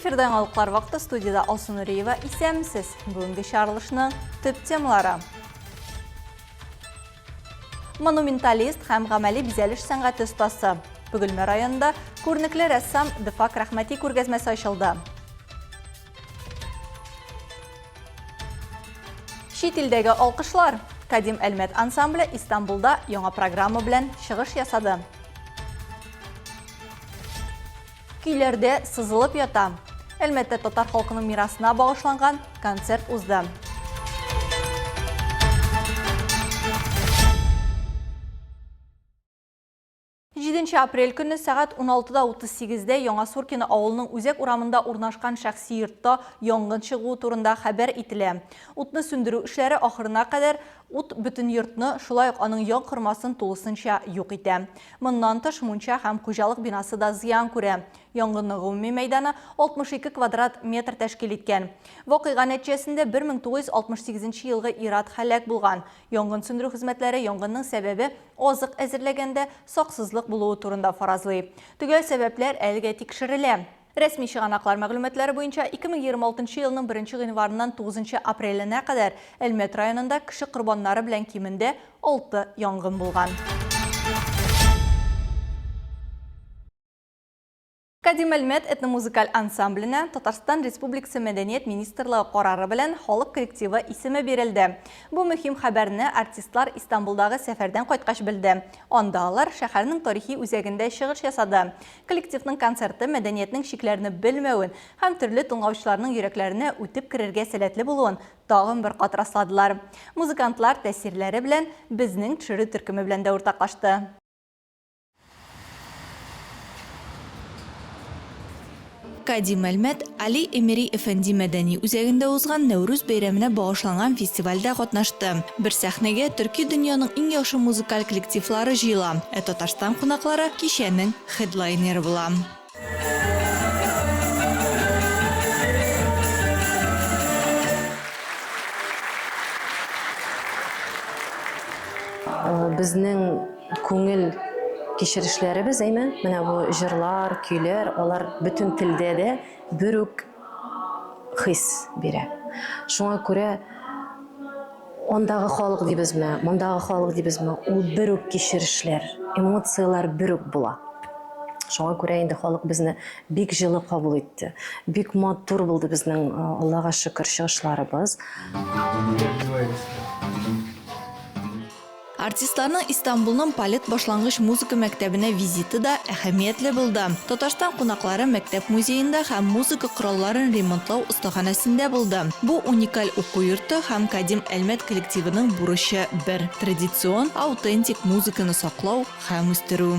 Эфирда яңалыклар вакыты студиядә Алсу Нуриева исәмсез. Бүгенге чарылышның төп темалары. Монументалист һәм гамәли бизәлеш сәнгате остасы. Бөгелмә районында күренекле рәссам Дефак Рәхмәти күргәзмәсе ачылды. Чит илдәге алкышлар. Кадим Әлмәт ансамбле Истанбулда яңа программа белән чыгыш ясады. Көйләрдә сызылып ята. Әлмәттә татар халкының мирасына багышланган концерт узды. Җиденче апрель көнне сәгать 16:38-дә Яңа Суркино авылының үзәк урамында урнашкан шәхси йортта янгын чыгуы турында хәбәр ителә. Утны сүндерү эшләре ахырына кадәр Ут бөтен йортны, шулай ук аның янкормасын тулысынча юк итә. Моннан тыш, мунча һәм хуҗалык бинасы да зыян күрә. Янгынның гомуми мәйданы 62 квадрат метр тәшкил иткән. Вакыйга нәтиҗәсендә 1968 елгы ир-ат һәлак булган. Янгын сүндерү хезмәтләре янгынның сәбәбе азык әзерләгәндә саксызлык булуы турында фаразлый. Төгәл сәбәпләр әлегә тикшерелә. Рәсми чыганаклар мәгълүматлары буенча, 2026 елның 1 гыйнварыннан 9 апреленә кадәр Әлмәт районында кеше корбаннары белән кимендә 6 янгын булган. Кадим Әлмәт этномузыкаль ансамбленә Татарстан Республикасы мәдәният министрлыгы карары белән халык коллективы исеме бирелде. Бу мөһим хәбәрне артистлар Истанбулдагы сәфәрдән кайткач белде. Анда алар шәһәрнең тарихи үзәгендә чыгыш ясады. Коллективның концерты мәдәниятнең чикләрне белмәвен һәм төрле тыңлаучыларның йөрәкләренә үтеп керергә сәләтле булуын тагын бер кат расладылар. Музыкантлар тәэсирләре белән Безнең төшерү төркеме белән дә уртаклашты. Гади мәлмәт, Али Эмери Эфенди мәдәни үзәгендә узган Нәүрүз бәйрәменә багышланган фестивальдә катнашты. Бер сәхнәгә төрки дөньяның иң яхшы музыкаль коллективлары җыела, ә Татарстан кунаклары кичәнең хедлайнеры була. Безнең Күңел кичерешләребез, әйме, менә бу җырлар, көйләр, алар бөтен телдә дә бер үк хис бирә. Шуңа күрә андагы халык дибезме, мондагы халык дибезме, ул бер үк кичерешләр, эмоцияләр бер үк була. Шуңа күрә инде халык безне бик җылы кабул итте. Бик матур булды безнең, Аллага шөкер, чыгышларыбыз. Артистларның Истанбулның Палет башлангыч музыка мәктәбенә визиты да әһәмиятле булды. Татарстан кунаклары мәктәп музеенда һәм музыка коралларын ремонтлау остаханәсендә булды. Бу уникаль уку йорты һәм Кадим Әлмәт коллективының бурычы бер, традицион, аутентик музыканы саклау һәм үстерү.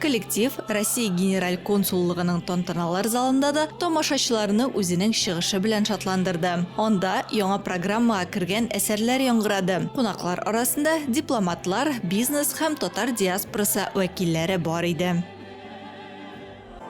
Коллектив Россия Генераль консуллыгының тантаналар залында да тамашачыларны үзенең чыгышы белән шатландырды. Анда яңа программага кергән әсәрләр яңгырады. Кунаклар арасында дипломатлар, бизнес һәм татар диаспорасы вәкилләре бар иде.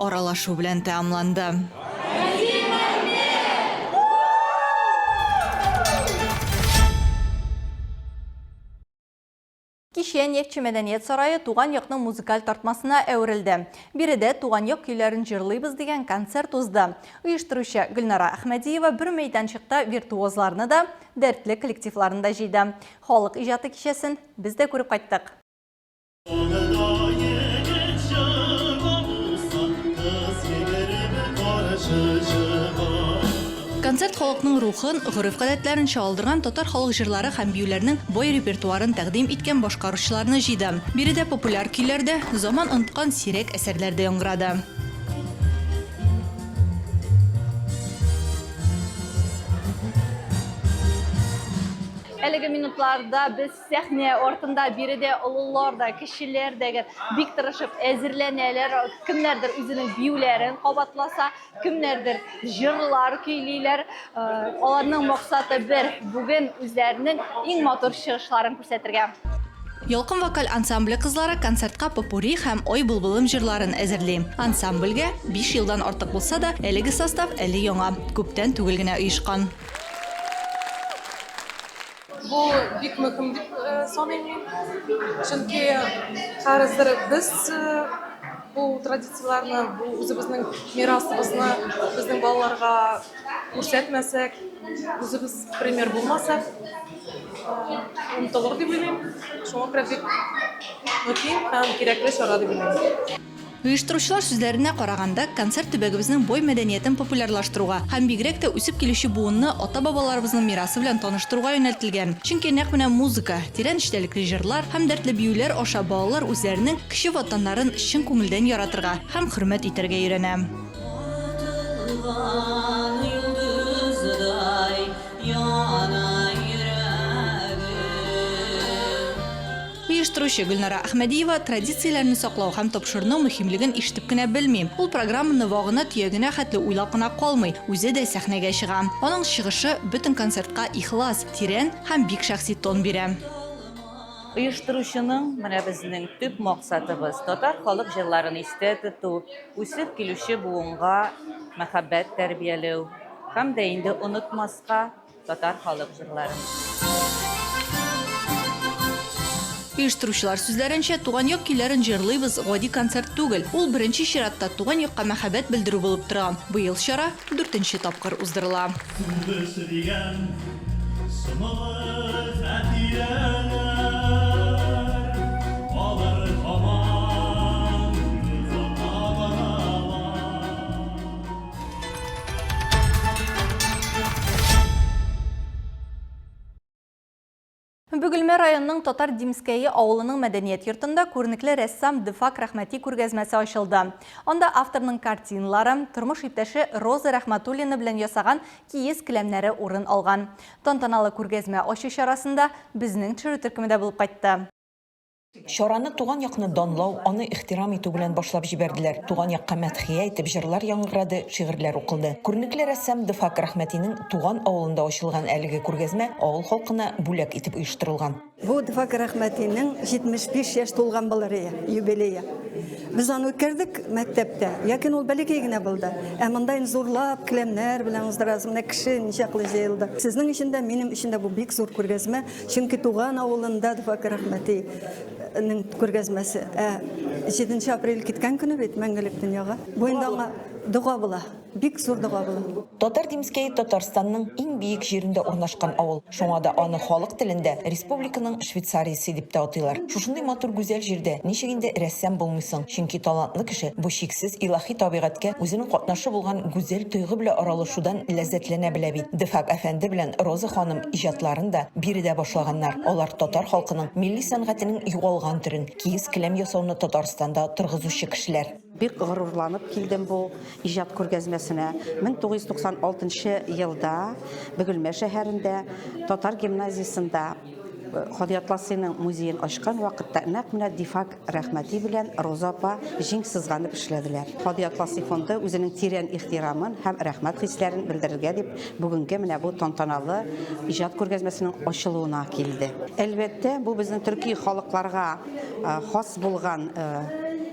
аралашу белән тәамланды. Кичә Нефтьче мәдәният сарае туган якның музыкаль тартмасына әверелде. Биредә Туган як көйләрен җырлыйбыз дигән концерт узды. Оештыручы Гөлнара Әхмәдиева бер мәйданчыкта виртуозларны да, дәртле коллективларны да җыйды. Халык иҗаты кичәсен без дә күреп кайттык. Авылда егет чыга булса, кыз егерме каршы чыга. Концерт халыкның рухын, гореф-гадәтләрен чагылдырган татар халык җырлары һәм биюләрнең бай репертуарын тәкъдим иткән башкаручыларны җыйды. Биредә популяр көйләр дә, заман оныткан сирәк әсәрләр дә яңгырады. Әлеге минутларда без Сәхнә артында биредә олылар да, кешеләр дә бик тырышып әзерләнәләр. Кемнәрдер үзенең биюләрен кабатласа, кемнәрдер җырлар көйлиләр. Э, аларның максаты бер, бүген үзләренең иң матур чыгышларын күрсәтергә. Ялкын вокаль ансамбле кызлары концертка попури һәм Ой булбылым җырларын әзерли. Ансамбльгә 5 елдан артык булса да, әлеге состав әле яңа, күптән түгел генә оешкан. Бу бик мөһим дип саныйм мин. Чөнки хәзер без бу традицияләрне, бу үзебезнең мирасыбызны безнең балаларга күрсәтмәсәк, үзебез пример булмасак, онытылыр дип уйлыйм. Шуңа күрә бик мөһим һәм кирәкле чара дип уйлыйм. Оештыручылар сүзләренә караганда, концерт төбәгебезнең бай мәдәниятен популярлаштыруга һәм бигрәк тә үсеп килүче буынны ата-бабаларыбызның мирасы белән таныштыруга юнәлтелгән. Чөнки нәкъ менә музыка, тирән эчтәлекле җырлар һәм дәртле биюләр аша балалар үзләренең кече Ватаннарын чын күңелдән яратырга һәм хөрмәт итәргә өйрәнә. Оештыручы Гөлнара Әхмәдиева традицияләрне саклау һәм тапшырну мөһимлеген ишетеп кенә белми. Ул программаны вагына-төягенә хәтле уйлап кына калмый, үзе дә сәхнәгә чыга. Аның чыгышы бөтен концертка ихлас, тирән һәм бик шәхси тон бирә. Оештыручының, Менә безнең төп максатыбыз, татар халык җырларын истә тоту, үсеп килүче буынга мәхәббәт тәрбияләү һәм дә инде онытмаска, Татар халык җырларын. Оештыручылар сүзләренчә, туган як көйләрен җырлыйбыз гади концерт түгел. Ул беренче чиратта туган якка мәхәббәт белдерү булып тора. Быел чара дүртенче тапкыр уздырыла. Бүгелмә районының Татар Димскәе авылының мәдәният йортында күренекле рәссам Дефак Рәхмәти күргәзмәсе ачылды. Анда авторның картиналары, тормыш иптәше Роза Рәхмәтуллина белән ясаган киез келәмнәре урын алган. Тантаналы күргәзмә ачу чарасында безнең төшерү төркеме дә булып кайтты. Чараны туган якны данлау, аны ихтирам итү белән башлап җибәрделәр. Туган якка мәдхия итеп җырлар яңгырады, шигырьләр укылды. Күренекле рәссам Дфак Рахмәтинең туган авылында ачылган әлеге күргәзмә авыл халкына бүләк итеп оештырылган. Бу Дфак Рахмәтинең 75 яшь тулган былырые, юбилее. Без аны үткәрдек мәктәптә, ләкин ул бәләкәй генә булды. Ә монда инде зурлап келәмнәр белән уздырасың, менә кеше ничаклы җыелды. Сезнең өчен дә, минем өчен дә бу бик зур күргәзмә. Чөнки туган авылында Дфак Рәхмәти күргәзмәсе. Ә 7 апрель киткән көне бит мәңгелек дөньяга. Бу инде аңа дога була. Бик зур дога була. Татар Димскәй Татарстанның иң биек җирендә урнашкан авыл. Шуңа да аны халык телендә республиканың Швейцариясе дип тә атыйлар. Шушындый матур гүзәл җирдә ничек инде рәссам булмыйсың? Чөнки талантлы кеше бу чиксез илаһи табигатькә үзенең катнашы булган гүзәл тойгы белән аралашудан ләззәтләнә белә бит. Дфак әфәнде белән Роза ханым иҗатларын да биредә башлаганнар. Алар татар халкының милли сәнгатенең югалган төрен, киез-келәм ясауны Татарстанда торгызучы кешеләр. Бик горурланып килдем бу иҗат күргәзмәсенә. 1996 елда Бөгелмә шәһәрендә татар гимназиясендә Кади Атласыйның музеен ачкан вакытта нәкъ менә Дифак Рәхмәти белән Роза апа җиң сызганып эшләделәр. Һади Атласи фонды үзенең тирән ихтирамын һәм рәхмәт хисләрен белдерергә дип бүгенге менә бу тантаналы иҗат күргәзмәсенең ачылуына килде. Әлбәттә, бу безнең төрки халыкларга хас булган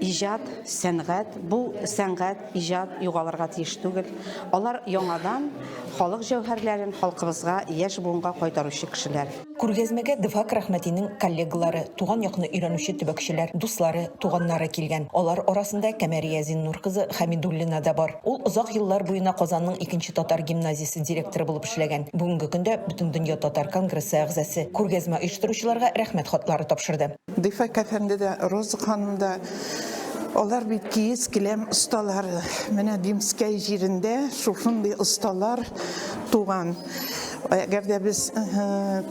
иҗат, сәнгать. Бу сәнгать, иҗат югалырга тиеш түгел. Алар яңадан халык җәүһәрләрен халкыбызга, яшь буынга кайтаручы кешеләр. Күргәзмәгә Дефак Рәхмәтинең коллегалары, туган якны өйрәнүче төбәкчеләр, дуслары, туганнары килгән. Алар арасында Кәмәрия Зиннур кызы Хәмидуллина да бар. Ул озак еллар буена Казанның икенче татар гимназиясе директоры булып эшләгән, бүгенге көндә Бөтендөнья татар конгрессы әгъзасы. Күргәзмә оештыручыларга Рәхмәт хатлары тапшырды. Дефак әфәнде дә, Роза ханым да, алар бит киез келәм осталары. Менә Димскәй җирендә шушындый осталар туган. Әгәр дә без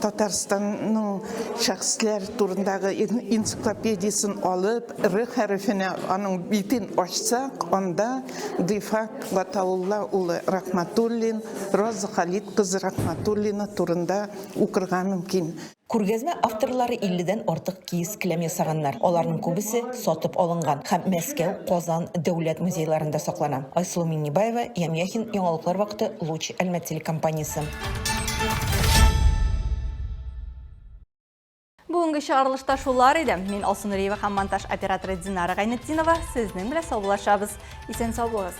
Татарстанның шәхесләр турындагы энциклопедиясен алып, Р хәрефенә аның битен ачсак, анда Дифак Гатаулла улы Рахматуллин, Роза Халит кызы Рахматуллина турында укырга мөмкин. Күргәзмә авторлары 50 дән артык киез-келәм ясаганнар. Аларның күбесе сатып алынган һәм Мәскәү, Казан дәүләт музейларында саклана. Айсылу Миңнебаева, Ян Яхин, Яңалыклар вакыты, Луч, Әлмәт телекомпаниясе. Бүгенге чыгарылышта шулар иде. Мин Алсу Нуриева һәм монтаж операторы Динара Гайнетдинова сезнең белән саубуллашабыз. Исән сау булыгыз!